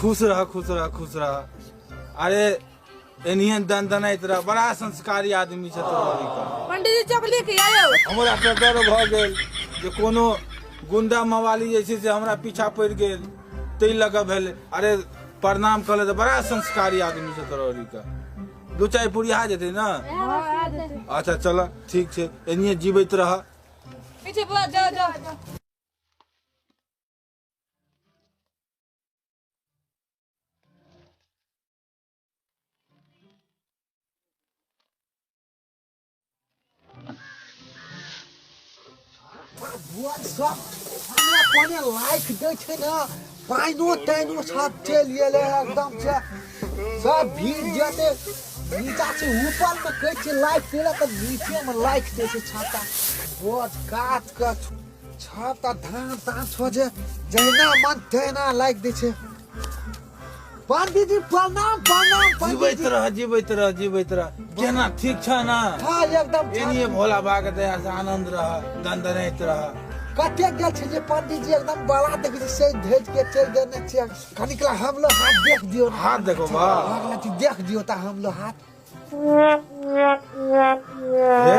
खुश रह खुश रह खुश रह अरे एनियन दन दनाइत रह बड़ा संस्कारी आदमी छै तोरा अभी का पंडित जी चौक लेके आयो हमरा तऽ डर भऽ गेल जे कोनो गुंडा मवाली जे छै से हमरा पीछा पड़ि गेल ताहि लऽ कऽ भेल अरे प्रणाम कऽ ले तऽ बड़ा संस्कारी आदमी छै तोरा अभी का दू चाय पुरिया जेतै ने अच्छा चल ठीक छै एनिये जीबैत रह पीछे बुआ जाओ जाओ सब हमरा कोने लाइक दे छै ना पाइनो ताइनो सब चल गेले एकदम से सब भीड़ जते नीचा से ऊपर में कह छै लाइक केला त नीचे में लाइक दे छै छाता बहुत काट के छाप तऽ धान तान सोझे जहिना मन तहिना लागि दै छै पंडीजी प्रणाम प्रणाम जीवैत पंडीजी रह जीवैत रह जीवैत रह केना ठीक छ ना हाँ एकदम ठीक। एनिए भोला बाबा के दया से आनंद रह दंदनैत रह कते गेल छै जे पंडीजी एकदम बड़ा देखै छै से भेज के चलि देने छियै कनिकला हम लोग हाथ देख दियो ना। हाथ देखो बा भगवती देख दियो ता हम लोग हाथ हे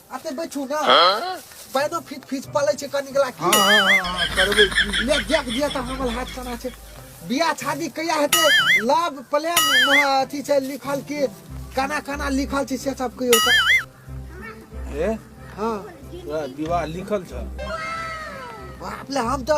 अते बैठू ना पैनो फिट फिट पलै छै कनी गला की हाँ हाँ हाँ करबै की ले देख दिया त हमर हाथ कना छै बियाह शादी कहिया हेतै लव प्लेम अथी छै लिखल की कना कना लिखल छै से सब कहियो त ए हाँ तोरा विवाह लिखल छ बाप ले हम तो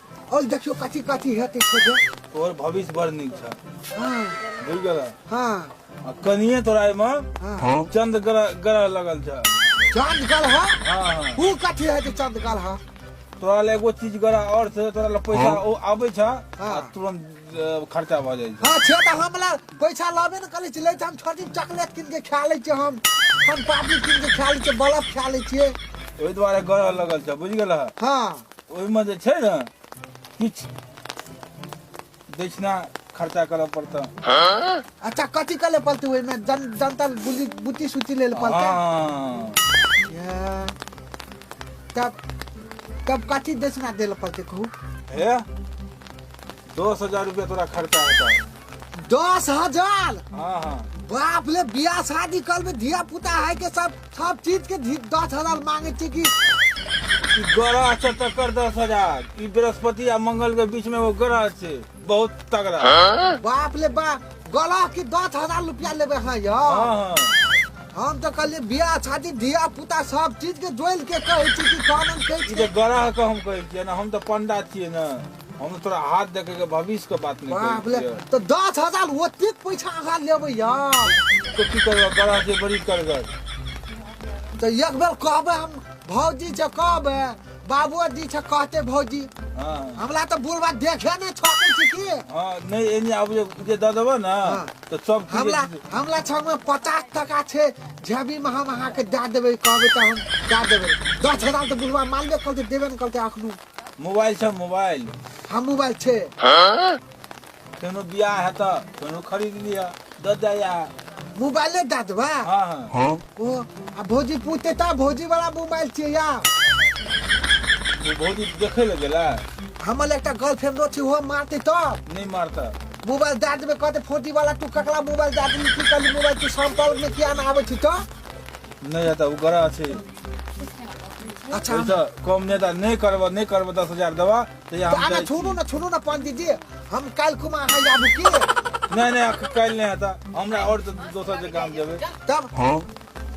और देखियो कथी कथी हेतै खोजे तोहर भविष्य बड़ नीक छ हाँ बुझ गेल हाँ आ कनिए तोरा एहिमे हाँ चंद ग्रह ग्रह लगल छ चांद गल है हाँ हाँ ऊ कथी हेतै चांद गल है तोरा ले एगो चीज ग्रह और छै तोरा ले पैसा ओ आबै छ आ हाँ। तुरंत अ, खर्चा भऽ जाइ छ हाँ छे तऽ हमरा पैसा लाबे ने करै छी लै छी हम छोटी चॉकलेट कीन के खा लै छी हम हम पापड़ी कीन के खा लै छी बल्ब खा लै छियै ओहि दुआरे ग्रह लगल छ बुझ गेल हाँ ओहिमे जे छै ने किछु दक्षिणा खर्चा करऽ पड़तऽ अच्छा कथी कर ले पड़ते ओहिमे जन जनता बुद्धि बुद्धि सुद्धि ले ले पड़ते हँ। या, तब तब कथी दक्षिणा दे ले पड़ते कहू हे दस हजार रुपया तोरा खर्चा हेतौ दस हजार हाँ हाँ बाप ले बियाह शादी कल में धिया पुता है के सब सब चीज के धी- दस हजार मांगे छे कि ई ग्रह से टक्कर दस हजार ई बृहस्पति आ मंगल के बीच में वो ग्रह से बहुत तगड़ा बाप ले बा गला के दस हजार रुपया लेबे है यो हाँ हाँ हम तो कहलिए बियाह शादी धिया पुता सब चीज के जोइल के कहे छी कि कानन कहे ई छी तो ग्रह के हम कहै छियै ना हम तो पंडा छियै ना हम तोरा हाथ देखे के भविष्य के बात नहीं बाप रे करी तो दस हजार ओतेक पैसा अहाँ लेबै यार तो की करबा बड़ा जे बड़ी करगर तो एक बेर कहबै हम भौजी से कहबै बाबूजी से कहते भौजी हां हमरा तो बुढ़वा देखे नहि छकै छी की हां नहीं एनी आब जे जे द देबो ना हाँ। तो सब कुछ हमरा हमरा छमे पचास टका छै जेबीमे हम अहाँके दए देबै कहबै तऽ हम दए देबै दस हजार तऽ बुढ़वा मानबे करतै देबे ने करतै अखनो मोबाइल छ मोबाइल हम मोबाइल छे कोनो बियाह है त कोनो खरीद लिया द दया मोबाइले दा देबा हां हां ओ आ भौजी पूछते ता भौजी वाला मोबाइल छे या वो भौजी देखे ले गेला हमर एकटा गर्लफ्रेंड छी हो मारते त नहीं मारता मोबाइल दा देबे कहते फोटी वाला तू ककला मोबाइल दा देबे की कल मोबाइल तू संपर्क में किया ना आवे छी त नहीं आता वो गरा छे अच्छा हम- ओहिसँ कम नहि दा नहि करबह नहि करबह दस हजार देबह तऽ या तो हम आना जाइ छी। छोड़ू ना छोड़ू ना पंडित जी हम कल को मैं अहाँ जाबू की नहि नहि अख- काल्हि नहि हेतह हमरा आओर तऽ दोसर जे काम जेबै तब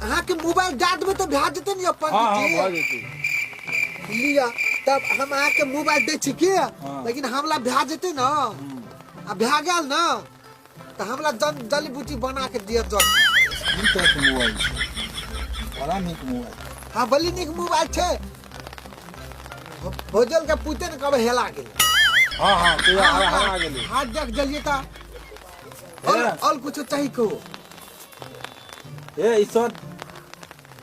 अहाँ के मोबाइल डाल देबै तो भए जेतै ने यौ हँ हँ भऽ पंडित जी जेतै लिया तब हम अहाँ के मोबाइल दै छी की लेकिन हमला भए जेतै ना आ भए गेल ना तऽ हमरा जल जली बूटी बना के दिअ जल ई तो एक मोबाइल छै। बड़ा नीक मोबाइल हाँ बली नीक मोबाइल छै भो- भोजल के पूछते ने कब हेला गेल हाँ हाँ तू हरा हरा गेली हाथ देख जलिए ता और हे। और कुछ चाहिए कहो ए ई सब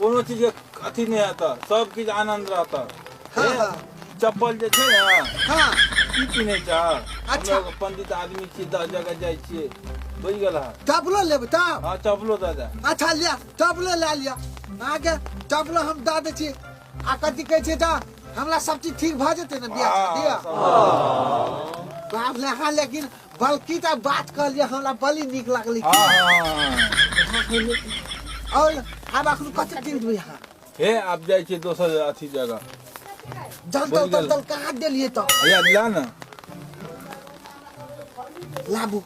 कोनो चीज के अथी नहि हेतऽ सब किछु आनंद रहतऽ हाँ, हे, हाँ। चप्पल जे छै ने हाँ की पिन्है छ अच्छा। हम एगो पंडित आदमी छी दस जगह जाइ छियै बुझि गेल हँ टपलो लेब तब हँ चप्पलो दऽ दे अच्छा लिया टपलो लए लिया अहाँके टपलो हम दऽ दै छी आ कथी कहै छै तऽ हमरा सब चीज ठीक भऽ जेतै ने बियाह शादी हँ, सब- बाप रे अहाँ लेकिन बल्कि तऽ बात कहलियै हमरा बड़ी नीक लगलै की हाँ हाँ हाँ हाँ। और आब अखन कथी दिन देबै अहाँ हे आप जाइ छियै दोसर अथी जगह जल बोल तल तल गेल। तल कहाँ देलियै तऽ भैया ला न लाबू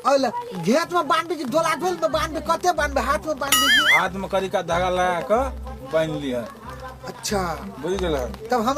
और घेत में बांधबे कि डोला डोल में बांधबे कते बांधबे हाथ में बांधबे कि हाथ में करिका धागा लगा कऽ बान्हि लिहऽ अच्छा बुझि गेलहन तब हम